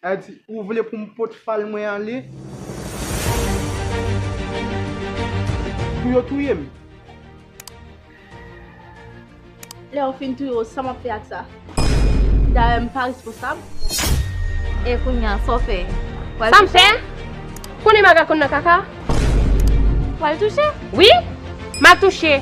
Adi, ou vle pou m pot fal mwen ale? Pou yo touye m? Lè yo fin touye w, sa m ap fè ak sa? Dayè, m pa responsab. E kounye a, sa w fè? Sa m fè? Konnen maga konn nan kaka? Wal touche? Wi, m ap touche.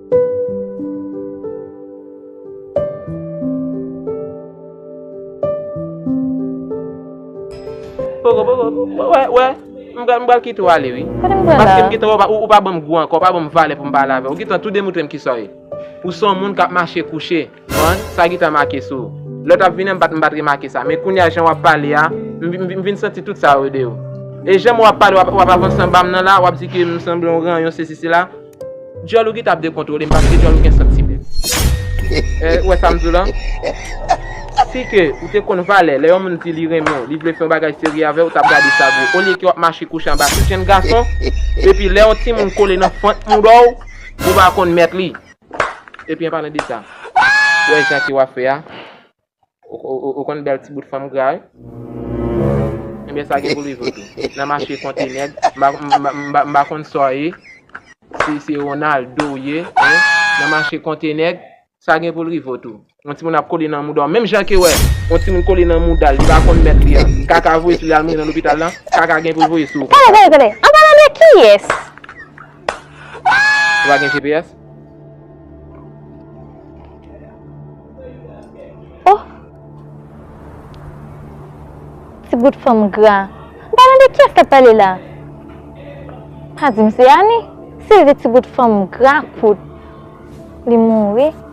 Poko poko poko wè wè m pral m pral kite w ale wi Kote m pral la Paske m gentan wè w pa ou pa banm gou ankò ou pa banm valè pou m pale avè w ou gentan tou demoutre m kisa w ye ou se yon moun k ap mache kouche. Bon, sa gita make sou ou? Lè w t ap vini an m pa t m pa t remake sa. Men kounye a jan w ap pale a, m vin santi tout sa yo de ou. E jan m wè w ap pale, w ap avanse anba m nan la, w ap di ke m sanble yon ranyon sesi sela. Djòl ou gita ap dekontwole m paske djòl ou gen santimen. Ou wè sa m di w lan? Si ke ou te konn valè lè yon moun di li renmen w, li vle fè yon bagay serye avè w, ou t ap gade sa gwo. Olye ke w ap mache kouche anba tout jenn gason, epi lè yon timoun kole nan fant moudon w, ou pa konn mèt li. Epi an palan de sa, ou wè jan ke wap fè a, ou konn bèl ti bout fanm gra wi. Enben sa gen pou li vre tou. Nan mache konte nèg, m pa konn sa w ye, si se Ronaldo w ye, nan mache konte nèg, sa gen pou li vre tou. Yon timoun ap kole nan mouda w. Menm jan ke wè yon timoun kole nan mouda l, li pa konn mèt li an, kaka voye sou li al mouri nan lopital lan, kaka gen pou l voye sou ou konsa. Tande, tande, an palan de kiyès? Ou pa gen GPS? Oh! Ti bout fanm gra. An palan de kiyès kap pale la? Pa di m se Annie? Sylvie ti bout fanm gra kout li mouri.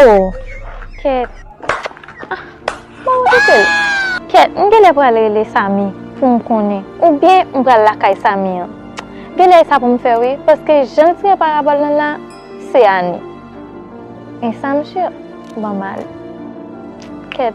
Oh Kèt ah bon ou kite l. Kèt m genlè pral rele Samy pou m konnen oubyen m pral lakay Samy an genlè e sa pou m fè wi paske jan l tire parabòl nan la se Annie e sa msye banm mal Kèt.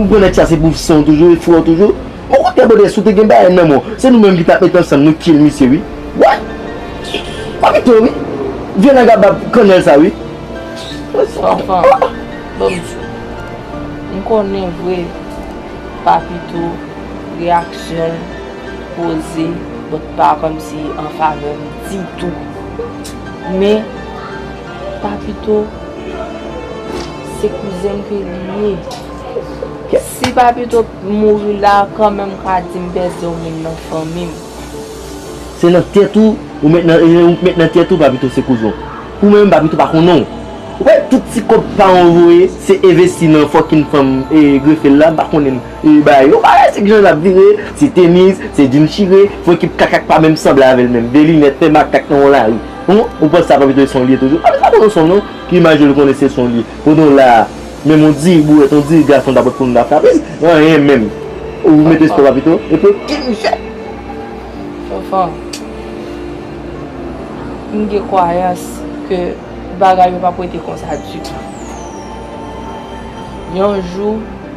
Ou pran nèg sa se pou fsnw toujou e fwew toujou? Bon kote brodè si w te gen bagay nan men w se nou menm ki tap met ansanm nou kill misye wi What? Wap pito wi Vye nagabab kannèl sa wi Anfan Bon misye M konnen vre Papito Reaksyon l. koze but pa komsi an favè m ditou men papito se kouzen m ke li ye si papito mouri la kanmenm m ka di m pèdi yon moun nan fanmi m. Se nan tèt ou ou met nan e ou k met nan tèt ou papito se kouzen w pou mwen menm papito pa konnen w ou kwè tout ti kòb paran w voye se evesti nan fòkin fanm e grefe l la m pa konnen l. E bagay yo parèy se knsa lap vire, se tenis, se jean chire, fon ekip kaka k pa menm sanble avèl menm, 2 linèt, fè makak nan yon lari. Hum, ou panse sa pa pito e son'l ye toujou? Paske sa pa yon son non, ki imaj yo li konnen se son'l ye. Kote w la a, menm yon di bourèt, yon di gason ta pot konn ta frape l, anyen menm. Ou mete sport pa pito? E pou ki misye? Fanfan, m gen kwayans ke bagay yo pap rete konsa ditou. Yon jou.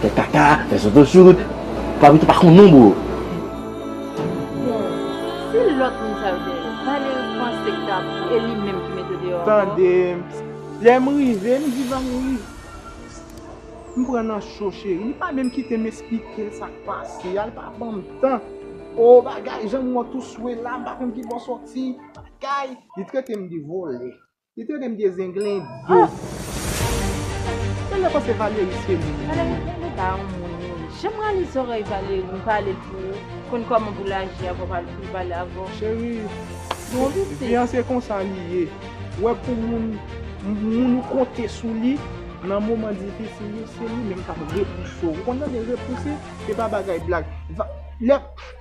Fè kaka, fè zozo sou wout. Pablito pa konn non bro. Bon si lòt moun sa yo te yo Valery panse k tap e li menm ki mete deyò ankò. Tande lèm rive m di Valery m pran nan cho cheri li pa menm kitem esplikel sak pase a li pa banm tan oo bagay janm wè w tou swe la m pa konn kibò w sòti bagay li tretem de vòlè. Li te renmn vye zenglen do. Mwen nan panse Valery se moun. Valery gen de pa yon moun wi. Janm rale zòrèy Valery m pale pou ou konn kòman pou l aji avan poul pale avè w. Cherie vi an se konsa li ye. Wè pou moun moun ou konte sou li nan moman difisil yo se li menm kap repouse w ou konn tande repouse se pa bagay blag lè.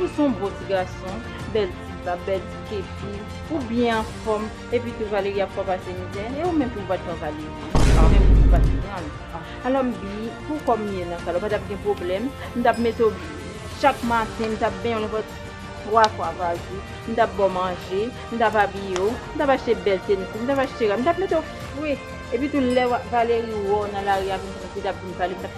Ou son bon ti gason, bèl ti bab, bèl ti kefi, ou byen anfòm, epi tou Valery ap fè w pase mizè, e ou menm tou ou pa t pran Valery, ou menm tou ou pa t pran l. Alò m di, pou kòm m ye nan sa la, ou pa t ap gen pwoblèm, m t ap mete w chak maten, m t ap benyen w nenpòt 3 fwa pa jou, m t ap ba w manje, m t ap abiye w, m t ap achte bèl tenis pou w, m t ap achte rad, m t ap mete w fre, epi tou lè Valery wè w nan lari a, m t ap vin pale, m t ap.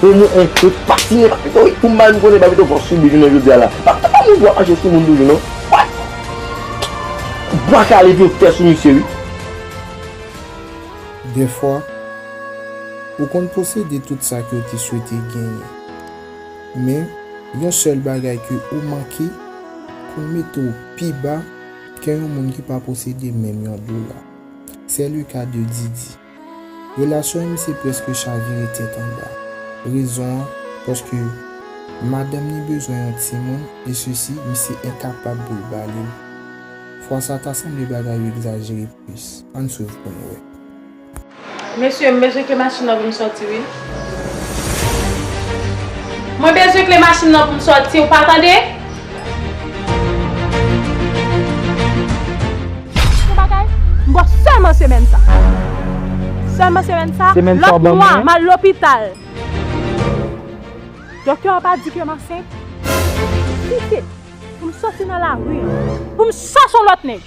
Pou mwen en kri fasine papito wi pou m bay m konnen papito pran soubi jounen jodi a la papito pa moun pou ap mache sou moun toujou non what bwa kale epi yo fè sou misye wi. Dèfwa, ou konn posede tout sa ke w te swete genyen. Men, yon sèl bagay ke ou manke konn mete w pi ba ke yon moun ki pa posede menm yon dola. Sè le ka de Didi. Relasyon an misye preske chavire tèt anba. Rezon an, paske madanm ni bezwen yon timoun e sesi misye enkapab pou l ba li l. Fwa sa ta sanble bagay yo egzajere plis. Ann swiv pou n wè. Mesye, m bezwen ke machin lan vin sòti wi. Mwen bezwen kle machin nan pou m sòti ou pa tande. Yon bagay, m bo sèlman semèn sa. Sèlman semèn sa, lòt mwa m al lopital. Doktè a pa di ke m ansent. Kite pou m sòti nan lari an, pou m chache yon lòt nèg.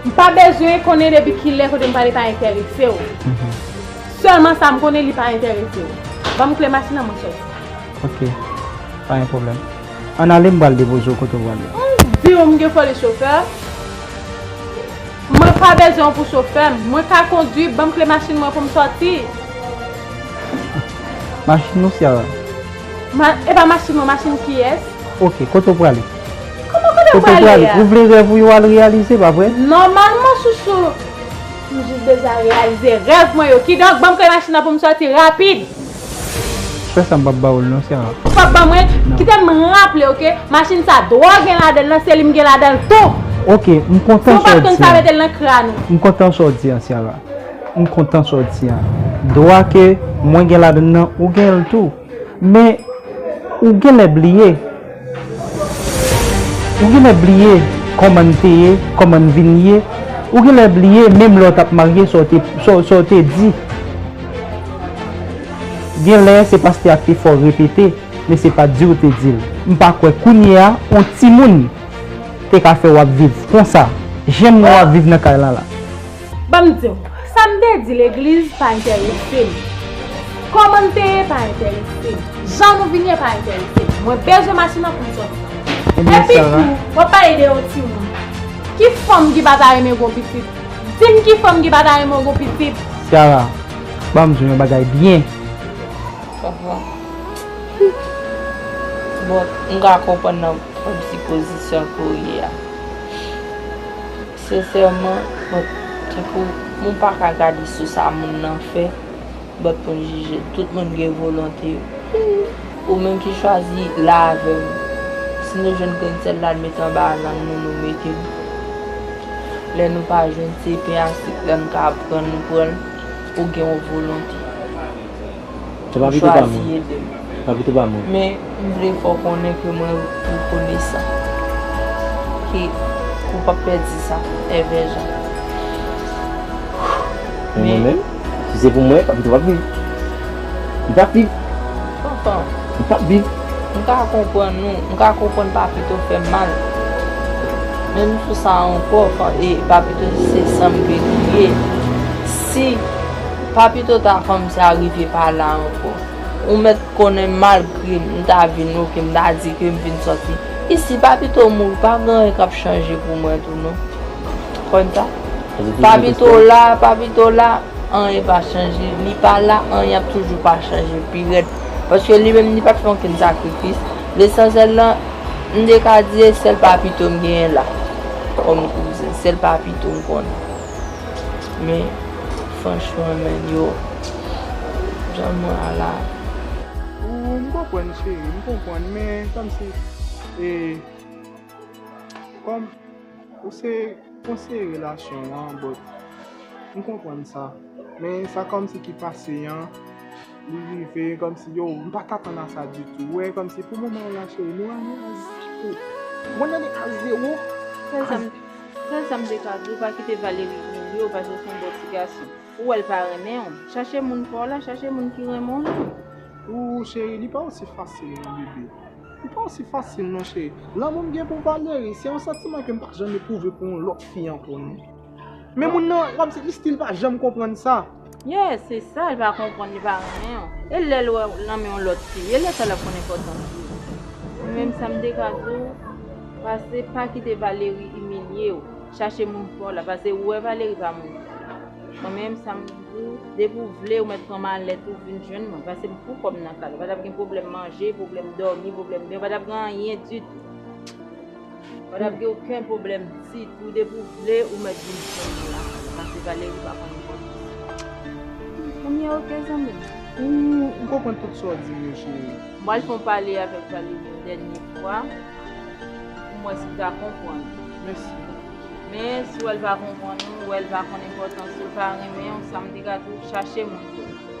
M pa bezwen konnen depi kilè kote m prale pa enterese w. Sèlman sa m konnen li pa enterese w. Ban m kle machin an mwen soti. Ok. Pa gen pwoblèm. An n ale m pral depoze w kote w prale a. M di w m gen foli chofè. Mwen pa bezwen w pou chofè m. Mwen ka kondwi. Ban m kle machin mwen pou m soti. Machin ou Ciara? E pa machin mwen, machin kiyès? Ok. Kote w prale? Koman kote ou prale a? Ou vle rèv ou yo al reyalize pa vre? Nòmalman sousou m jis bezwen reyalize rèv mwen yo kidonk banm kle machin nan pou m sòti rapid. Fè sa m pap ba ou l non Sara. Ou pap ban mwen? Kite m raple w ke machin sa dwò gen ladan l nan seli m gen ladan l tou. Ok m kontan sa w di an. Si w pat konn sa mete l nan kran ou. M kontan sa w di an Sara. M kontan sa w di an. Dwa ke mwen gen ladan l nan ou gen l tou. Men ou genlè bliye Ou genlè bliye kòman n te ye Kòman n vin ye Ou genlè bliye menm lè w t ap marye sa w te sa w te di Genlè se paske ak efò w repete men se pa di w te di l M pa kwè kounye a on timoun te ka fè w ap viv konsa Jan nou ap viv nan kay lan la Ban m di w, sa m te di legliz pa enterese m. Kòman n te ye pa enterese m. Jan nou vin ye pa enterese m. Mwen bezwen machin nan pou m soti. Epi tou, w ap pale de yon timoun. Ki fanm ki pa ta renmen gen yon pitit? Di m ki fanm ki pa ta renmen gen yon pitit? Sara, ban m di w yon bagay byen. Papa, bon, m ka konprann nan pwòp sipozisyon ke w ye a. Sincèrement but tankou moun paka gade sou sa moun nan fè but poun jije l tout moun gen volonté yo humm ou menm ki chwazi la avèm si nou jwenn grenn sèl la n met anba lang nou nou mete l lè nou pa jwenn se pen a sik la n ka pran nou pran l ou gen yon volonté. M chwazi ede m. Men m vle fè w konnen ke mwen rekonesan. Ke ou p ap pèdi sa. Èvè Jan. Men mwen menm, si se pou mwen, Papito p ap viv. Li p ap viv. Tonton. Li p ap viv. M ka konprann ou. M ka konprann Papito fè mal. Men m sou sa ankò. E Papito di se san m ke li ye. Si. Pa pito ta fanm sa rive pa la ankò. Ou mèt konnen malgre m ta vin ok m ta di ke m vin sòti isi pa pito w mouri pa gen anyen k ap chanje pou mwen tou non. Ou konn sa? Pa pito w la, pa pito w la anyen pa chanje. Li pa la anyen ap toujou pa chanje pi rèd. Paske li menm li pa t fè okenn sakrifis. Lesansyèl lan m te ka di e sèl pa pito m genyen la kòm kouzen. Sèl pa pito m konnen. Men franchman nèg yo janm ra la. Ooh m konprann chérie m konprann men komsi e kom ou se konseye relasyon an but m konprann sa men sa komsi ki pase an. Li rive kòmsi yo m pa ka tann a sa ditou ou wè kòmsi pou moman an la cheri nou rann nou a zero mwen rann nou a zero sèl sa m sèl sa m te ka di w pa kite Valérie imilye w paske s on bon ti gason ou wè l pa renmen w chache moun pa w la chache moun ki renmen w la. Ooh cheri li pa osi fasil non bebe li pa osi fasil non cheri lanmou m gen pou Valérie se yon santiman ke m pa janm eprouve pou yon lòt fi ankò non. Men moun nan wap di li stil pa janm konprann sa. Yes se sa li pa konprann li pa renmen w e lèl wè w nan men yon lòt fi e lè sa lap konn enpòtans li men menm sa m te ka di w pase pa kite Valery imilye w chache moun paw la pase ou wè Valery pa moun paw mwen menm sa m di w depi w vle ou mèt pran malèt ou vin jwenn mwen pase m fou kòm nan kal ou pa tap gen pwoblèm manje pwoblèm dòmi pwoblèm byen ou pa tap gen anyen ditou. Ou patap gen oken pwoblèm ditou depi ou vle ou mèt vin jwenn mwen la kay la pase Valerie pa konn enpòtans. Kounye ok zanmim. Ou konprann tout sa w dim yo chérie. M pral fon pale avèk Valerie yon dènye fwa pou m wè si l ka konprann. Mesi. Men si w wè l pa konprann ou wè l pa konn enpòtans ou l pa renmen ou sam te ka di w chache moun pou l.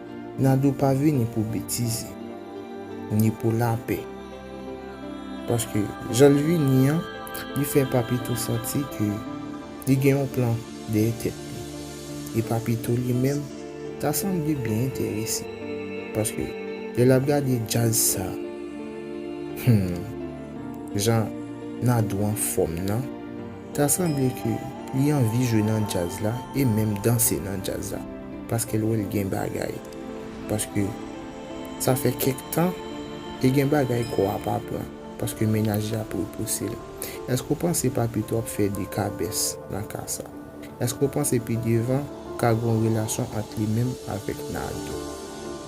Nadou pa vini pou betize, ni pou lapè. Paske jan l vini an, li fè Papito santi ke li gen yon plan dèyè tèt li. E Papito li menm ta sanble byen enterese. Paske lè l ap gade djaz sa, humm, jan Nadou anfòm nan. Ta sanble ke li anvi jwe nan djaz la e menm danse nan djaz la paskel wèl gen bagay paske sa fè kèk tan e gen bagay kò a pa pran paske mennaj li ap repousel eske ou panse pa pito ap fè de kabès nan ka sa eske ou panse pi devan ka gon relasyon ant li menm avèk Nardo.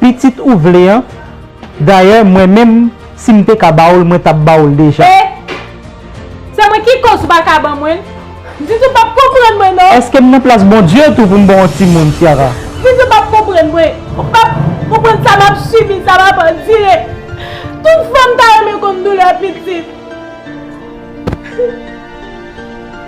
Pitit ou vle an, dayè mwen menm si m te ka ba ou l mwen t ap ba ou l deja. E! Se mwen ki koz ou pa ka ban mwen l? Zizi ou p ap konprann mwen non. Eske m nan plas Bondye tou pou m ba w yon timoun Ciara? Zizi ou p ap konprann mwen, ou p ap konprann sa m ap sibi, sa m ap andire. Tout fanm ta renmen konn doulè pitit.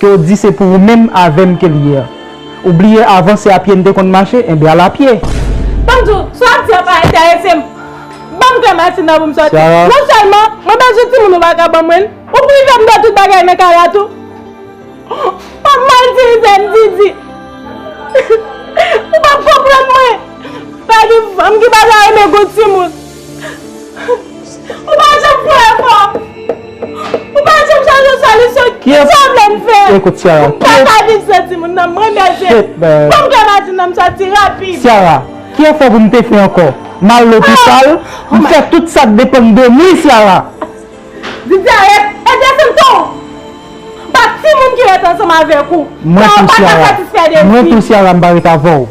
Ke w di se pou ou menm avè m ke l ye an. Ou bliye avan se a pye n te konn mache, enben al a pye. Banm di w, sa w ap di an pa enterese m. Ban m kle machin nan pou m soti. Non sèlman, mwen bezwen timoun ou pa ka ban mwen l. Ou prive m de tout bagay nan kay la tou. Pa p mal itilize m Didi. Ou pa p konprann mwen. Pa gen fanm ki pa ta renmen gwo timoun. Ou pa janm kwè ankò. Ou pa janm chaje solisyon. Kisa w vle m fè? M pa ka viv san timoun nan. Mwen mèje. Fò m gamatin nan m sòti rapid. Syara, ki efò pou m te fè ankò? M al lopital, m fè tout sa k depann de m wi Syara. Vidya ret. Edye se m tou. M pa timoun ki ret ansanm avèk ou. Sa w pa ka satisfè de m fi. Mwen tou Syara m pa ret avè w.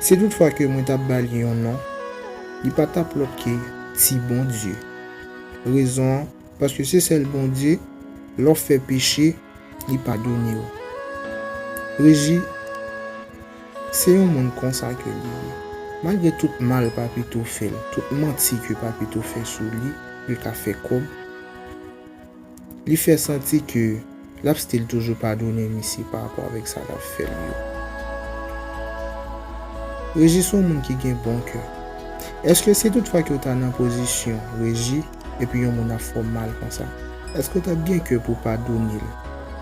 Si tout fwa ke mwen tap bal yon non, li pa tap lòt ke ti Bondye. Rezon an, paske se sèl Bondye, lè w fè peche, li padone w. Regi, Se yon moun konsa ke li ye. Malgre tout mal Papito fè l, tout manti ke Papito fè sou li pou l ka fè kòb, Li fè santi ke lap stil toujou padone misye pa rapò avèk sa lap fè li yo. Reji son moun ki gen bon kè. Eske si tout fwa ke ou ta nan pozisyon Reji epi yon moun ap fè w mal konsa, eske ou tap gen kè pou w padone l?